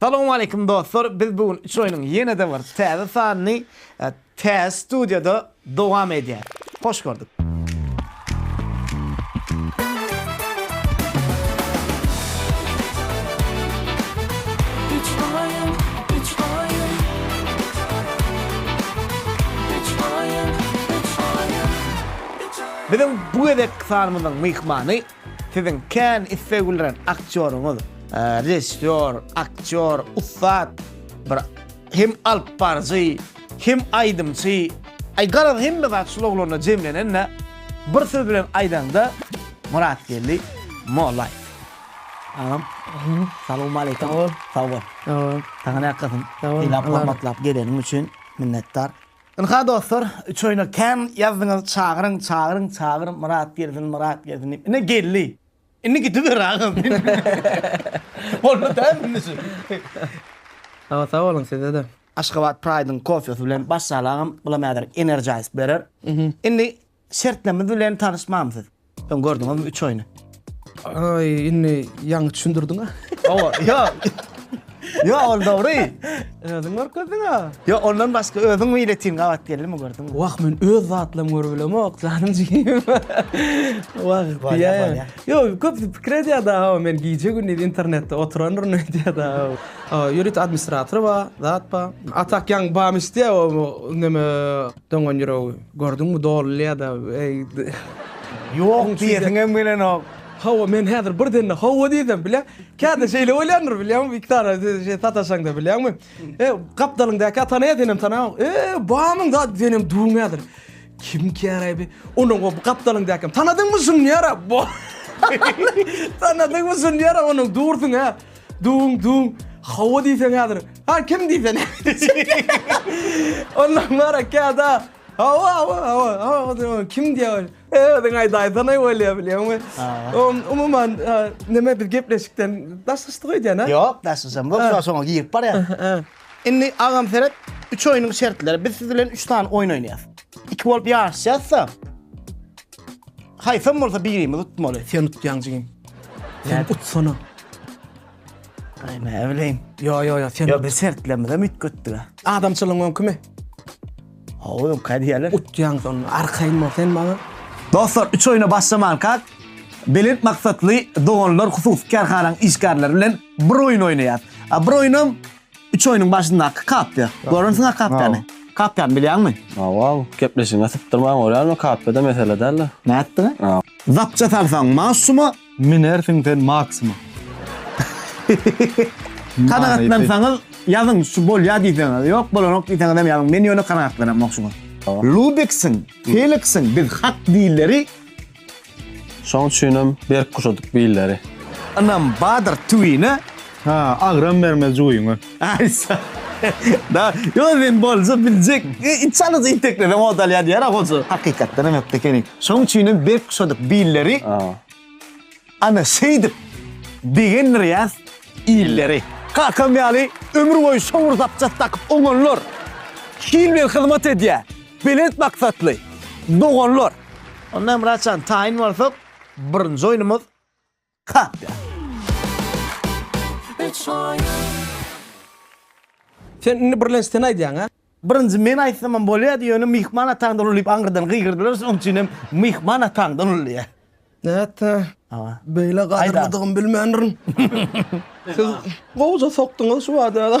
Salowmaleýkim dostlar biz bu gün üç oýnuň ýene-de bir täze sanyny täze studiýada dowam edýär. Hoş gördük. Biziň bu gezekki sanymyzyň myhmany Siziň kän isleg bildiren aktýoryňyz, režissýor, aktýor, ussat bir hem alyp baryjy, hem aýdymçy, aý garaz hemme zat şul oglanda jemlenende bir söz bilen aýdaňda Myratgeldi Mollaýew. Agam salowmaleýkim. Sag bol. Sag bol. Sag bol. Saňa näkasyn. Sag bol. Syýlap hormatlap geleniň üçin minnetdar. Ynha dostlar üç oýna kän ýazdyňyz çagyryň çagyryň çagyr Myrat gelsin Myrat gelsin diýip ine geldi. Indi gidiber agam. Boldy däl indi şu. Sawa sag boluň sizede. Aşgabat Pride-yň kofesi bilen başlaly agam, bulam häzir energize berer. Indi Şertnemiz bilen tanyşmamsyz. Soň gördüňizmi üç oýny? Aý, indi ýaňy düşündirdiň-ä. Hawa, ýok. Ýok, ol dogry. Özüň görkezdiň-ä. Ýok, ondan başga özüň meýletin gabat geldiňmi, gördüňmi? Wah, men öz zatlarymy görüp bilemok, janym jigim. Wah, diýýän. Ýok, köpüsi pikir edýär-de, hawa, men gije-gündiz internetde oturandyryn öýdýär-de. Ýörite administratory bar, zat bar. A tak ýaňy bamyş diýýär, o neme. Doňan ýüregi gördüňmi doly ýa-da Ýok diýesim hem gelenok. Hawa men häzir birden-de hawa diýsem bilä käte şeýle bolýandyr bilýäňmi Wiktara şeý sataşaňda bilýäňmi e gapdalyňdaky tana ýa senem tanaň e bamyň zat senem duň häzir kim käraý bi onuň o gapdalyňdaky tanadyňmy şuny ýara bo tanadyňmy şuny ýara onuň dursuň hä. Dum dum. Hawa diýseň häzir. Ha kim diýseň. Ondan bara käda. Hawa hawa hawa. Hawa kim diýär? Özüň aýdaýsana bolýar bilýäňmi? Oň umuman neme biz gepleşikden daşlaşdyk öýdýän-a? Ýok, daşlaşamok. Soň şoňa girip barýan. Indi agam seret, üç oýnuň şertleri. Biz siz bilen üç sany oýun oýnaýas. Iki bolup ýaryşýas-da. Haýsam bolsa birimiz utmaly. Sen utýaň jigim. Sen utsana. Aý, näbileýin. Ýo, ýo, ýo, sen. Ýo, biz şertlerimize üýtgetdik. Adamçylygyň öňkümi? Hawa öňki hädiýäler. Utýaňyz onda arkaýyn bol sen maňa. Dostlar üç oýuna başlamankak Belent maksatly doganlar hususy kärhananyň işgärleri bilen bir oýun oýnaýas. A bir oýunam üç oýunyň başyndaky kapýa. Görensiňa kapýany. Kapýany bilýäňmi? Hawa gepleşigiňe sypdyrman görýärmi kapýada mesele däldir. Nätdiňä? Zapça salsaň maşuma. Minersiň sen maksima. Kanagatlansaňyz ýazyň şu bolýa diýseňiz ýok bolanok diýseňizem ýazyň men ýöne kanagatlanamok şu gün. Lubiksiň, Feliksiň biz hak dilleri. Şoň üçinem berk guşadyk billeri. Ynam badyr tüwine. Agram bermez juýyňa. Aý sag. Da, ýok men bolja biljek. Hiç alys itekleseň hodalýan ýer hoja. Hakykatdan hem ökde ekeni. Şoň üçin hem berk guşadyk billeri. Ana şeýdip begendirýäs illeri. Kakam ýaly ömür boýy şowur zapças dakyp oňanlar. Hil bilen hyzmat edýär belent maksatly doganlar. Onda Myratjan taýyn bolsak birinji oýnumyz. Kapda. Sen indi birlenç sen aýdýaň a? Birinji men aýtsamam bolýardy ýöne myhman ataňdan uly diýip aňyrdan gygyrdylar şonuň üçin hem myhman ataňdan uly diýýä. Nätse. Hawa. Beýle gadyrlydygymy bilmändirin. Siz gowja sokduňyz şu bada.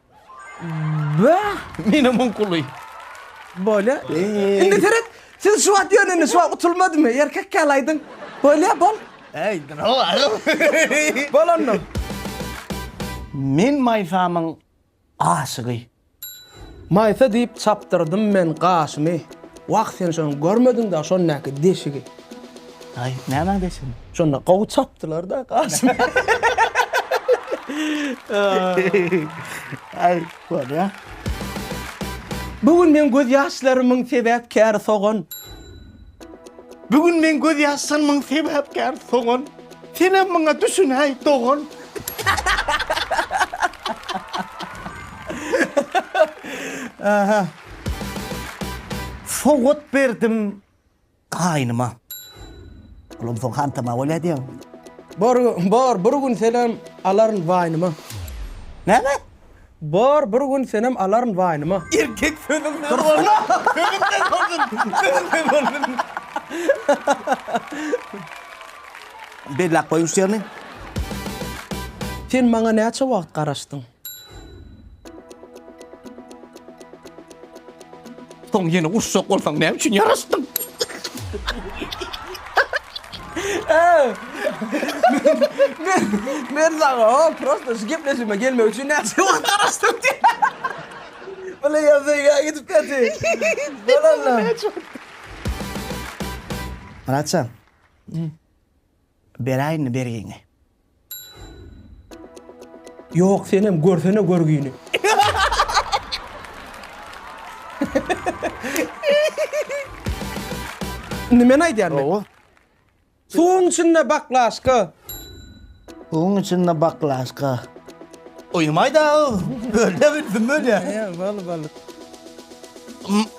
Bäh! Menä muň kuly. Bolýa. Indi seret. Siz şu wagt ýöne indi şu wagt utulmadymy? Erkek ýaly aýdyň. Bolýa, bol. Aýdyň-ow agam. Bol onda. Men Maýsamyň aşygy. Maýsa diýip çapdyrdym men gaşymy. Wah sen şony görmediň-dä şondaky deşigi. Aý, nämäň deşigini? Şonda gowy çapdylar-da, Kasym. Aý, bolýa. Bu gün meň göz ýaşlarymyň sebäpkäri sogan. Bu gün meň göz ýaşlarymyň sebäpkäri sogan. Senem muňa düşünäý, dogan. Sowgat berdim Gaýnyma. Olam soň hantama bolýa diýen. Bor, bor, bir gün senem alaryn waýnyma. Näme? Bor, bir gün senem alaryn waýnyma. Erkek sözüň dur bolsun. Sözüň dur bolsun. Sözüň dur bolsun. Belläp goýuň şu ýerini. Sen maňa näçe wagt garaşdyň? Soň ýene urşak bolsaň näme üçin ýaraşdyň? Men men saňa o prosta şu gepleşime gelmek üçin näçe wagt garaşdym diýip. Bula ýazýa gidip käti. Bolanlar. Myratjan. Beräýinmi bergiňi? Ýok senem görsene görgini. Nimeni aýdýan men? Gowy. Suwuň içinde baklaşka. Suwuň içinde baklaşka. Uýumaýda o. Bölde bilsin bölýä. Ýa bol bol.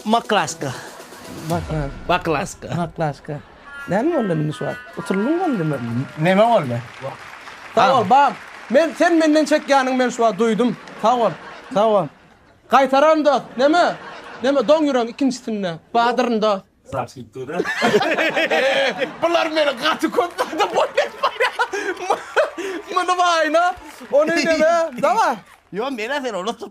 Maklaşka. Baklaşka. Baklaşka. Baklaşka. Näme boldy indi şu wagt? Utuldyň boldymy? Neme boldy? Sag bol, bam. Men sen menden çekýäniňi men şu wagt duýdum. Sag bol. Sag bol. Gaýtararyn dost. Neme? Neme doň ýüregiň ikinjisinde. Badyryn dost. Bular meni gaty köp zada boýun etmäýär. Muny baýna, ony neme. Daway. Ýok, men-ä seni unutdym.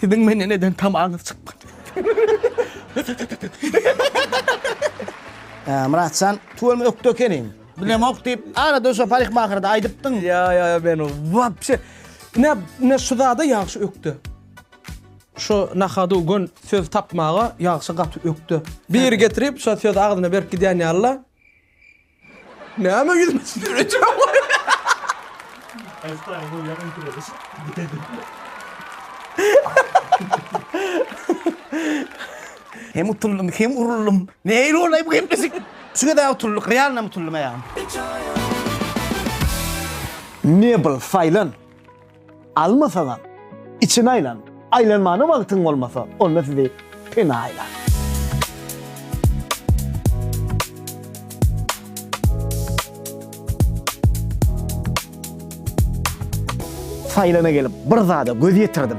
Siziň menden eden tamaňyz çykmady. Ýa, Myratjan, tuweleme ökde ekeniň. Bilemok diýip, arada şo parikmahyrda aýdypdyň. Ýa, ýa, ýa, men wapşe Ine, ine şu zada ýagşy ökde. Şu nahadu gün söz tapmaga ýagşy gaty ökde. Biri getirip, şo sözi agzyna berip gidýän ýaly-la. Näme ýüzüme Hem utuldym, hem uruldym. Neýle bolaý bu gepleşik? Şu gezä utuldyk, realnam utuldym-a ýa. Mebel saýlan. Almasaňam, içini aýlan. Aýlanmana wagtyň bolmasa, onda sizi pena aýlar. Saýlana gelip, bir zada göz ýetirdim.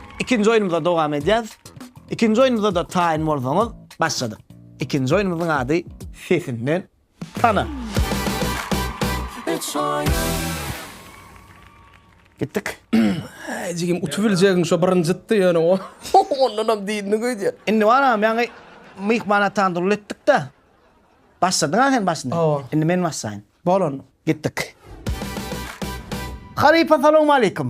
Ikinji oýnumyza dowam edýäs. Ikinji oýnumyzada taýyn bolsaňyz başladyk. Ikinji oýnumyzyň ady Sesinden tana. Üç oýun. Gitdik. Äý jigim utup biljegin şo birinjitdi ýöne o ondanam diýdini gidýä. Indi baram ýaňy myhman atan durly etdikde başladyňa sen başyny. Hawa. Indi men başlaýyn. Bolan. Gitdik. Halypa salowmaleýkim.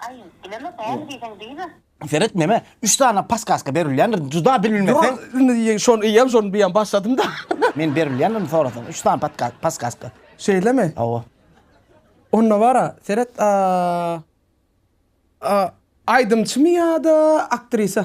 Aý, bileme bäri diýseň diýme. Seret neme üç sany paskaska berilýändir juda bilmesen. Indi şony iýem şony biýem başladym da. Men berilýändirini sorasaň üç sany paskaska. Şeýlemi? Hawa. Onda bara seret a a aýdymçymy ýa-da aktrisa?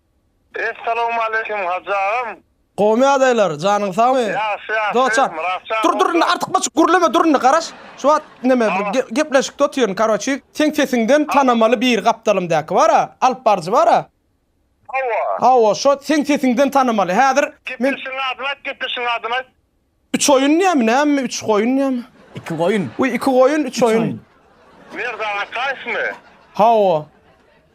Essalowmaleýkim Hajy agam. Gowmy ýagdaýlar, janyň sagmy? Ýagşy ýagşy, Dostjan, Myratjan dur dur indi artykmaçyk gürleme dur indi garaş, şu wagt neme bir ge gepleşikde otyryn karoçi, seň sesiňden tanamaly bir gapdalym däki bara, alyp baryjy bara, Hawa. hawa şo seň sesiňden tanamaly, häzir men Gepleşigiň adyny aýt, gepleşigiň adyny aýt. Üç oýun diýämi, nämemi, üç goýun diýämi? Iki goýun. Wi, iki goýun, üç oýun. Merdan Ataýewmi? Hawa.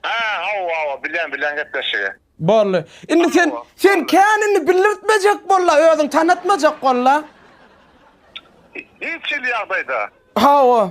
Hä, hawa, hawa, bilýän, bilýän gepleşigi. Boldy. Indi sen, sen kän indi bildirtmejek bol-la, özüň tanatmajak bol-la. Hiç hili ýagdaýda. Hawa.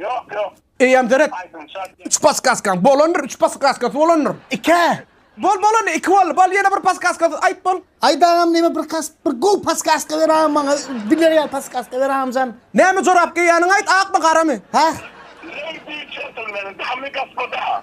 Ýok ýok. Eýýäm seret. Üç paskaskaň bolandyr, üç paskaskasy bolandyr. Ikä. Bol bol indi iki boldy. Bol ýene bir paskaskasy aýt bol. Aýt agam näme bir kas bir gowy paskaska ber agam maňa biler ýaly paskaska ber agamjan. Näme jorap geýýäniňi aýt akmy garamy. Hah. Ladies gentlemen, damy gospoda.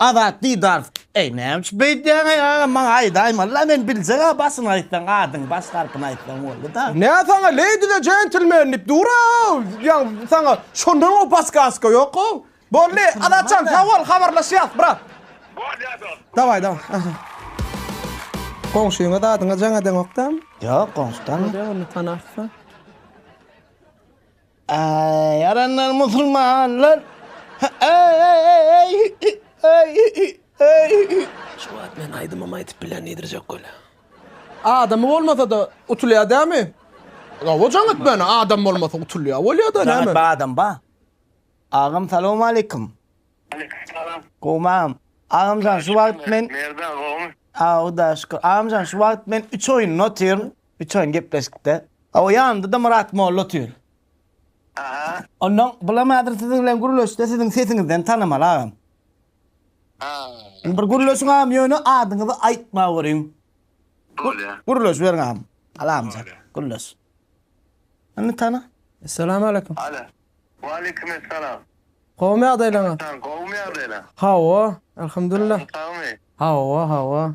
Azat Didarov, Eý, näme üçin beýdýäň-eý, agam, maňa aýdaýmala, men biljeg-ä, başyny aýtsaň, adyň, baş harpyny aýtsaň boldy-da. Nä saňa Lady the Gentleman diýip dur-ow, ýa saňa şondan-a paskaska ýok-ow. Boldy, Azatjan, sag bol, habarlaşýas, brat. Bolýa, dost. Daway, daway. Goňşyňa zadyňa jaň edeňok-dam? Ýok, goňşy tanamok. Bolýa, onda tanarsyň. Aý, ýaranlar musulmanlar. Aý, aý, aý, aý, aý, aý. Şu wagt men aýdymam aýdyp bilen diýdirjek welä. Adamy bolmasa-da utulýar dämi? Gowy jaň etmäne, adam bolmasa utulýar bolýar-da näme? Jaň etme adam ba. Agam salowmaleýkum. Aleýkum salam. Gowmam. Agamjan şu wagt men. Merdan gowmy? Aw hudaýa şükür. Agamjan şu wagt men üç oýunda otyryn. Üçaýyn gepleşikde. Hawa, ýanynda-da Myrat molla otyr. Aha. Onnoň, bulam häzir siziň bilen gürleşse, siziň sesiňizden tanamaly agam. Ha. Indi bir gürleşiň agam, ýöne adyňyzy aýtma görüň. Bolýa. Gürleşiberiň agam. Alamja, gürleş. Indi tana. Essalamualeýkum. Alo. Waaleýkum essalam. Gowmy ýagdaýlaryňyz? Gowmy ýagdaýlaň? Hawa, alhamdulillah. Sagmy? Hawa, hawa.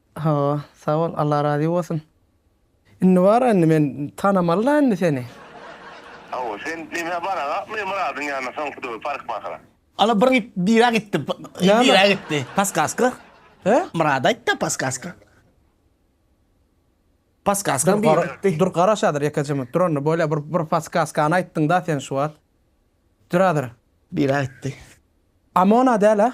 Hawa, sag bol, Alla razy bolsun. Indi bara indi men tanamaly da indi seni. Hawa, sen diňe baragap men Myradyň ýanyna soň hudaý parykmasyna. Ala bir git bira gitdi. Näme? Bira gitdi. Paskaska. He? Myrad aýtdy paskaska. Paskaska bira gitdi. Dur garaş adyr ýeke jymy. Dur onda bolýa bir bir paskaskany aýtdyň da sen şu wagt. Dur adyr. Bira gitdi. Amona däl a?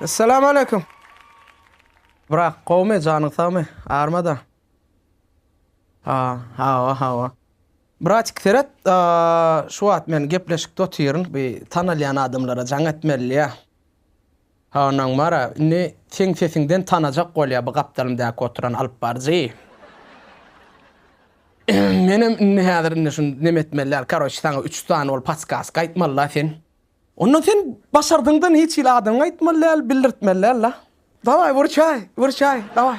Essalam aleýkum. Brak, gowmy, janyň sagmy? Armada. Ha, hawa, hawa. Bratik, seret, şu wagt men gepleşikde otyryn, bir tanalýan adamlara jaň etmeli ýa. Ondan bara indi seň sesiňden tanajak bolýa bu gapdalymdaky oturan alyp baryjy. Menem indi häzir indi şun neme etmeli däl karoç saňa üç sany ol patskaska aýtmaly la sen. Onda sen başardyňdan hiç hili adyňy aýtmaly däl bildirtmeli däl la. Daway wyrçaý wyrçaý daway.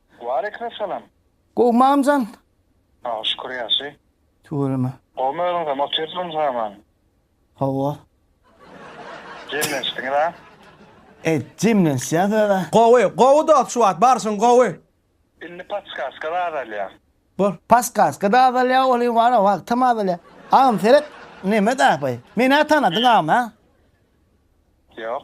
Waleýkim salam. Gowy mamjan. Saga şükür ýagşy. Tüweleme. Gowmy özüňizem otyrsyňyz haman. Hawa. Jemlenişdiňiz a. Ed jemlenişýäs özä. Gowy gowy dost şu wagt barşyň gowy. Indi paskaska da azalýa. Bor. Paskaska da azalýa ol hem bar a wagtam azalýa. Agam seret neme daýapaý. Menä tanadyň agam a. Ýok.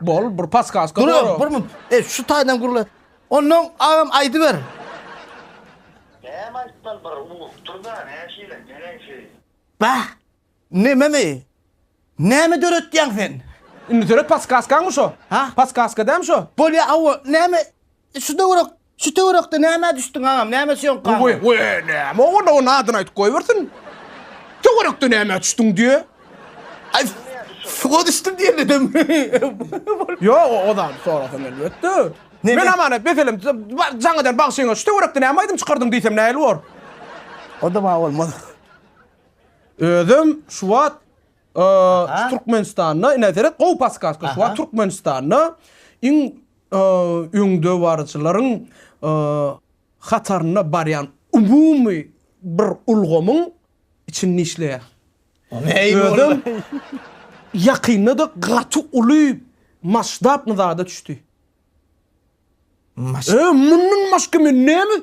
Bol bir paskaska Dur bor. bir minut. E şu taýdan gurla. Ondan agam aýdyber. Näme aýtmaly bir urup dur-da, näşeýle neneňsi? Bah! Nememi? Näme döretýäň sen? Indi töret paskaskaňmy şo? Ha? Paskaska dämi şo? Bolýa awa, näme şu döwürek Şu töwerekde nämä düşdüň agam, näme söňk galdy? Goý, goý, goý, näme ogul, onuň adyny aýdyp goýbersin. Töwerekde nämä düşdüň diýýä. Aý, suwa düşdüm diýemedem. Ýok, o zady sorasam elbetde. Men Amanet meselem jaň eden bagşyňa şu töwerekde näme aýdym çykardym diýsem nähili bor? O-da maňa bolmaz. Özüm şu wagt şu Türkmenistanda, ine seret, gowy paskaska, şu wagt Türkmenistanda iň öňdebaryjylaryň hatarynda barýan umumy bir ulgamyň içinde işleýär. Özem ýakynda-da gaty uly masştabny zada düşdi. Mundan başga men näme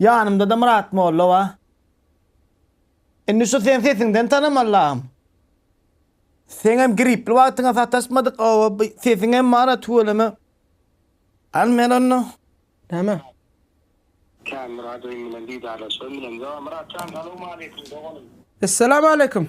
Ýanymda-da Myrat molla bar. Indi şu sen sesiňden tanaman lagym. Seňem gripli wagtyňa sataşmadyk, oba bu sesiňem bar-a tüweleme. Al men onda. Näme? Kän Myradowyň bilen didarlaşan bilen. Myrat jan salowmaleýkim doganym. Essalamu aleýkum.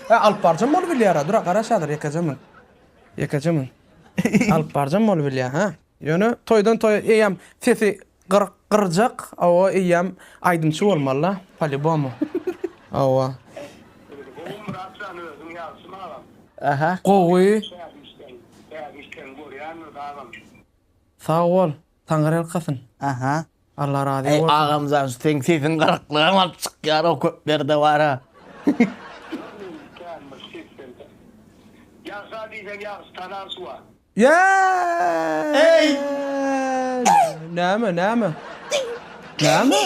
He alyp barjam bolup bilýara dura garaş hazir ýekeje mün. Ýekeje mün. Alyp barjam bolup bilýä hä. Ýöne toýdan toýa eýýäm sesi gyryk gyrjak awa eýýäm aýdymçy bolmalyda palibomu awa. Gowumyratjan özüň ýagşymy agam. Aha gowy. Täze işleň görýänmiz agam. Sag bol. Taňyrýalkasyn. Aha. Allah razy bolsun. Eý agamjan şu seň sesiň gyryklygam alyp çykýar o köp ýerde bara. Ýagşa diýseň ýagşy tanan şuwa. Eý! Näme näme? Näme?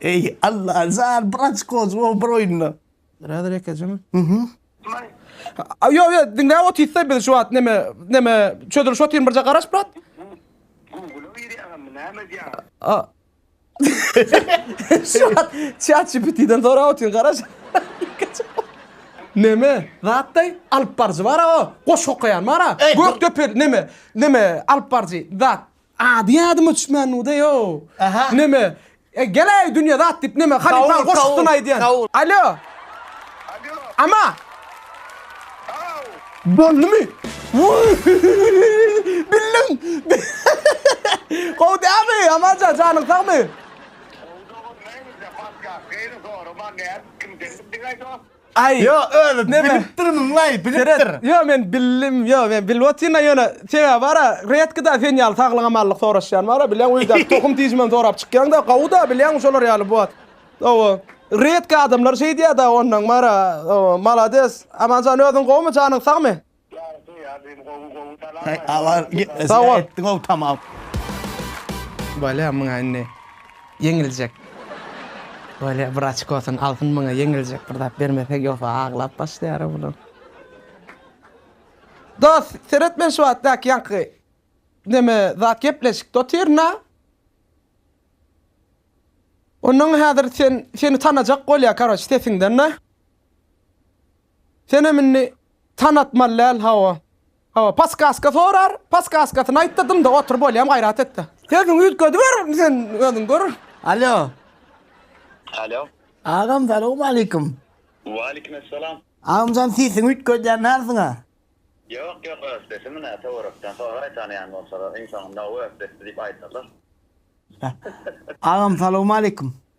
Eý Allajan bir açko juwabr oýnuna. Biraz rekejem. Mhm. May. A, Yo yo diňläp otyrsa biz şu wagt neme neme çözülüş otyryn birje garaş brat. Google giri agam näme diýýär? A. Şu wagt chat GPT-den sorap otyryn garaş. Neme? Zatdaý alyp baryjy bar-a o. Goşgy okaýan bar-a. Gökdepe neme? Neme alyp baryjy zat. Ady ýadyma düşmän nude ýok. Neme, e gel-aý dünýe zat diýip neme halypaň goşgusyny aýdýan. Alo. Alo. Ama. Haw. Boldumy? Bildim. Gowy dälmi, Amanjan, janyň sagmy? Gowy dogan, näme edýäň, başga, gaýry sorama, nädip, kimden bildiň-aý dost? Aý. Ýo, özi bilipdirmiňlaý, bilipdir. Ýo, men bildim, ýo, men bilip otyryn-a, ýöne sebäbi bar-a, redki-da sen ýaly saglyk-amanlyk soraşýan bar-a, bilýäň, öýdäki tohum-tijimem sorap çykýaň-da, gowy-da, bilýäň, şolar ýaly bot. Hawa, redki adamlar şeýdýär-da, onnoň bar-a, hawa, malades. Aman jan, özüň gowumy, janyň sagmy? Sag bol. Bolýa muňa indi ýeňiljek. Bolýa bir açkosyny alsyn muňa ýeňiljek bir zat bermesek ýogsa aglap başlaýara bular. Dos seret men şu wagt daki ýaňky neme zat gepleşikde otyrna. Ondan häzir sen seni tanajak bolýa karoç sesiňden da. Senem indi tanatmaly däl hawa. Hawa paskaska sorar, paskaskasyny aýt-da dymda otur bolýam gaýrat et-de. Sesiňi üýtgediber sen özüň gör. Alo. Alo. Agam salowmaleýkim. Waleýkim essalam. Agamjan sesiňi üýtgedýän dälsiň-a. Ýok ýok öz sesimi nä töwerekden soraý tanaýan bolsalar iň soňunda ow öz sesdi diýip aýdarlar. Agam salowmaleýkim.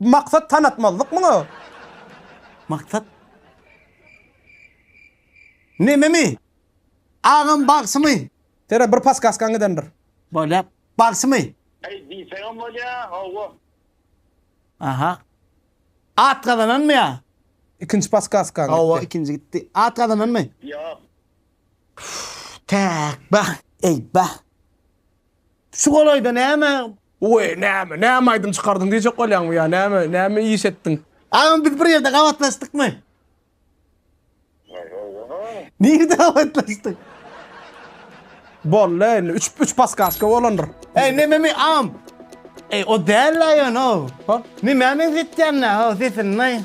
Bu maksat tanatmazlyk muňa. Maksat nememi? Agam bagşymy? Sere bir paskaskaň gidendir. Bolýa bagşymy? Eý diýseňem bolýa howwa. Aha. At gazananmy ýa? Ikinji paskaskaň gitdi. Howwa ikinji gitdi. At gazananmy? Ýok. Täk bah, eý bah. Şu golaýda näme Oý, näme, näme aýdym çykardyň diýjek bolýaňmy ýa näme, näme iş etdiň? Agam biz bir ýerde gabatlaşdykmy? Nirde gabatlaşdyk? Boldy indi üç üç paskaşka bolandyr. Eý nememi agam. Eý o däl aýan o. Hop. Nämä meňzetýän nä o sesini?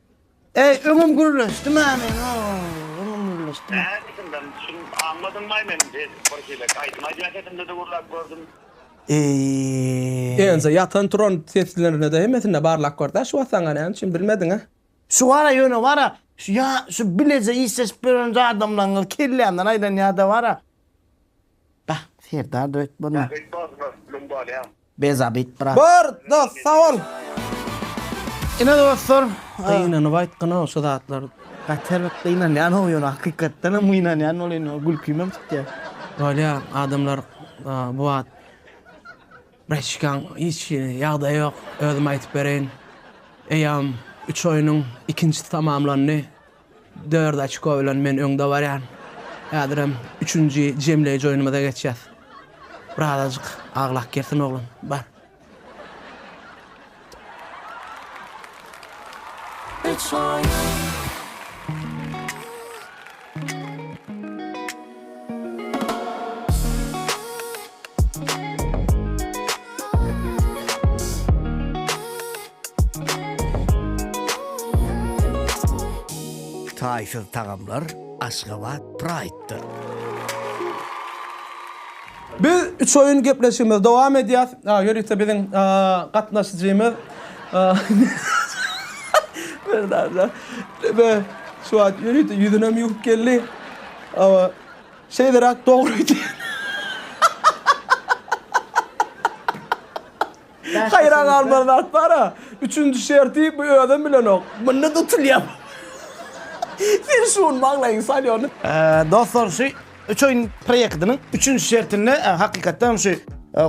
Eý öňüm gürleşdi mä meň ooo öňüm gürleşdi mä. Nädipsiň men şuny aňmadym maý men edip bir şeýle aýdym aýdýan sesimde de gürläp gördüm. Eee. Ense ýatan turan seslerinde de hemmesinde barlap gördä şu wasaňa näme üçin bilmediňä. Şu gara ýöne bara şu ýa şu bileje işleşip ýören adamlaňňyz kellämden aýlanýada bara. Bah, Serdar döýt bolma. Bäh, Öýtmez mi, mün bolýa. Be zabit brat. Bor dos sag bol. Ine dostlar gynanyp aýtgynok şu zatlary. Gaty erbet gynanýanok ýöne hakykatdanam gynanýan ol indi gülkimem çykýa. Bolýa adamlar bu wagt Braçkaň hiç hili ýagdaýy ýok özüm aýtyp bereýin eýam üç oýnuň ikinjisi tamamlandy Dört oçko bilen men öňde barýan. Häzirem üçünji jemleýji oýnumyza geçýäs. Birazajyk aglak girsin oglan. Bar. Üç oýun. Taýsyz tagamlar Aşgabat Pride-da! Biz üç oýun gepleşigimizi dowam edýäs. Ýörite biziň gatnaşyjymyz Merdan şu wagt ýörite ýüzünem ýuwup geldi. Awa, şeýleräk dogry öýdýän. Haýran galmaly zat bar-a, üçünji şerti bu özem bilenok. Munda tutulýar. Sen şuny maňlaýyňa sal ýöne. Dostlar, şu üç oýun proýektiniň üçünji şertinde hakykatdan hem şu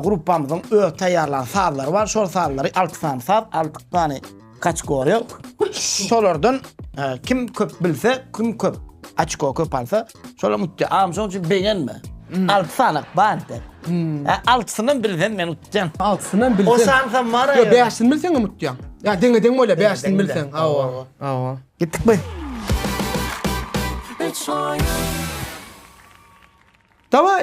gruppamyzyň öz taýýarlan sazlary bar. Şol sazlary, alty sany saz, alty sany. Kaçgorýa şolardan kim köp bilse, kim köp açko köp alsa, şolar utýar. Agam şonuň üçin begenme. Alty sanak bardy. Altysynam bilsem men utýan. Altysynam bilsem. O sansa mara. Ýa bäşini bilseň hem utýaň. Ýa deňe-deň bolýar bäşini bilseň. Hawa. Hawa. Gitdikmi? Üç oýun. Dawaý,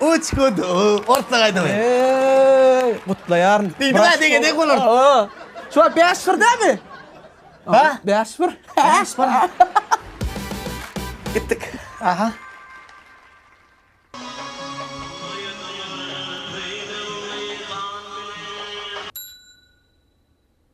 Uçkut orta gaýdamy. Eeeý gutlaýaryn. Diýdiňä degedek bolar. Şu wagt bäş bir dämi? Ha? Bäş bir. Bäş bir. Gitdik. Aha.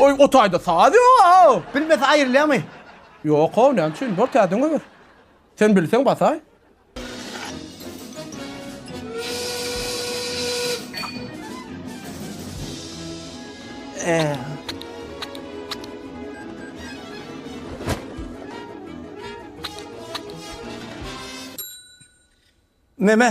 Oý, o taýda saz ýok-ow! Bilmese aýrylýarmy? Ýok-ow, näme üçin? Bor, täzeden goýber. Sen bilseň basaý. Meme.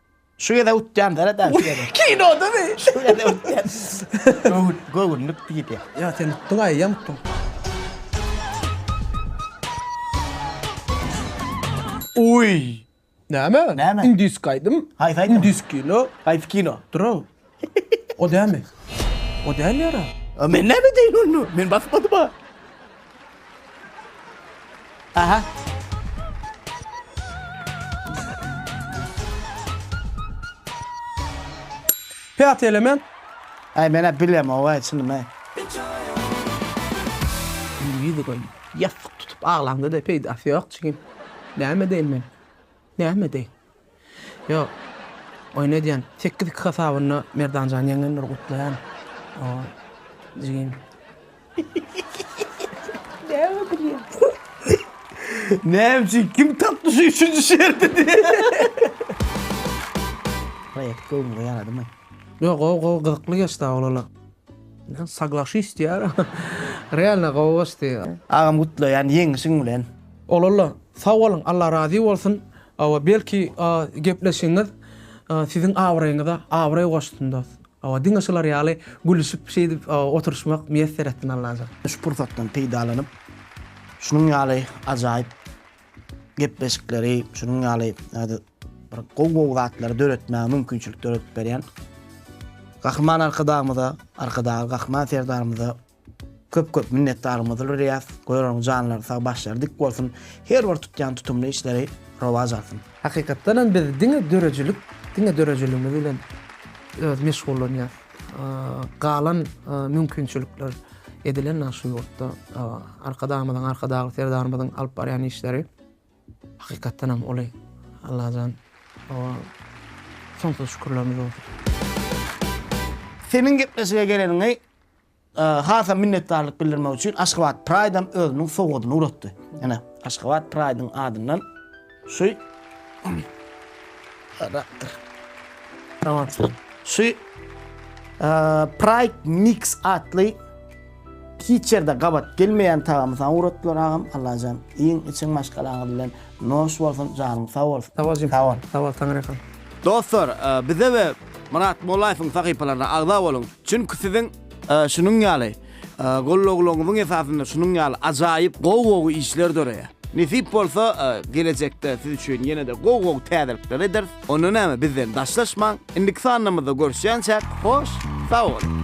Şu gezek utýan dara da şu gezek. Kinodamy? Şu gezek utýan. Göwün, göwünlik diýdi. Ýa sen utdyň aýam utdyň. Uýy. Näme? Näme? Indiski aýdym. Haýsy aýdym? Indiski kino. Haýsy kino? Durun. O dälmi? O däl ýara. A men näme edeýin onda? Men basmadym-a. Aha. Päti element. Aý men-ä bilemog-aý çynym-aý. Indi ýüzi göni. Ýassyk tutup aglaňda-da peýdasy ýok jigim. Näme edeýin men? Näme edeýin? Ýok. Oýun edýän. Sekiz iki hasabynda Merdan jan ýeňňeni bir gutlaýan. Oý. Jigim. Näme gülýäň? Näme üçin kim tapdy şu üçünji şerti diýýän. Proýekt göwnüňe ýaradymy? Ýok gowy gowy gyzykly geçdi awlala. Men saglaşyş diýýär. Realno gowy goşdy. Agam gutlaýan ýeňişiň bilen. Olalla sag boluň Allah razy bolsun. Hawa, belki gepleşigiňiz siziň abraýyňyza abraý goşsun dos. Hawa, diňe şular ýaly gülüşip şeýdip oturyşmak miýesser etsin Allajan. Şu pursatdan peýdalanyp, şunuň ýaly ajaýyp gepleşikleri, şunuň ýaly bir gowy-gowy zatlary döretmäge mümkinçilik döredip berýän Gahryman Arkadagymyza, Arkadagly Gahryman Serdarymyza, Köp köp minnetdarymyzdyr Ryýaz goýraryň janlary sag başlary dik bolsun her bir tutýan tutumly işleri rowaç alsyn. Hakykatdanam biz diňe döredijilik diňe döredijiligimiz bilen öz meşgullanýas galan mümkinçilikler edilen nag şu ýurtda arkadagymyzyň arkadagly serdarymyzyň alyp barýan işleri hakykatdanam uly Allajan soňsuz şükürlerimiz bolsun. Seniň gepleşige geleniňi Hasam minnetdarlyk bildirmek üçin Aşgabat Pride-am özüniň sowgadyny ugratdy. Ine, Aşgabat Pride-iň adyndan şu şu Pride Mix atly hiç ýerde gabat gelmeýän tagamy saňa ugratdylar agam. Allajan, iýiň, içiň maşgalaňyz bilen. Noş bolsun, janyň sag bolsun. Sag bol jigim. Sag bol. Sag bol, Taňryýalkasyn. Dostlar, bize we Myrat Mollaýewiň sahypalaryna agza boluň, çünki siziň şunuň ýaly gollaglaryňyzyň esasynda şunuň ýaly ajaýyp gowy-gowy işler döreýär. Nesip bolsa, gelejekde siz üçin ýene-de gowy-gowy täzelikler ederis. Onda näme, bizden daşlaşmaň. Indiki sanlarymyzda görüşýänçäk, hoş, sag boluň!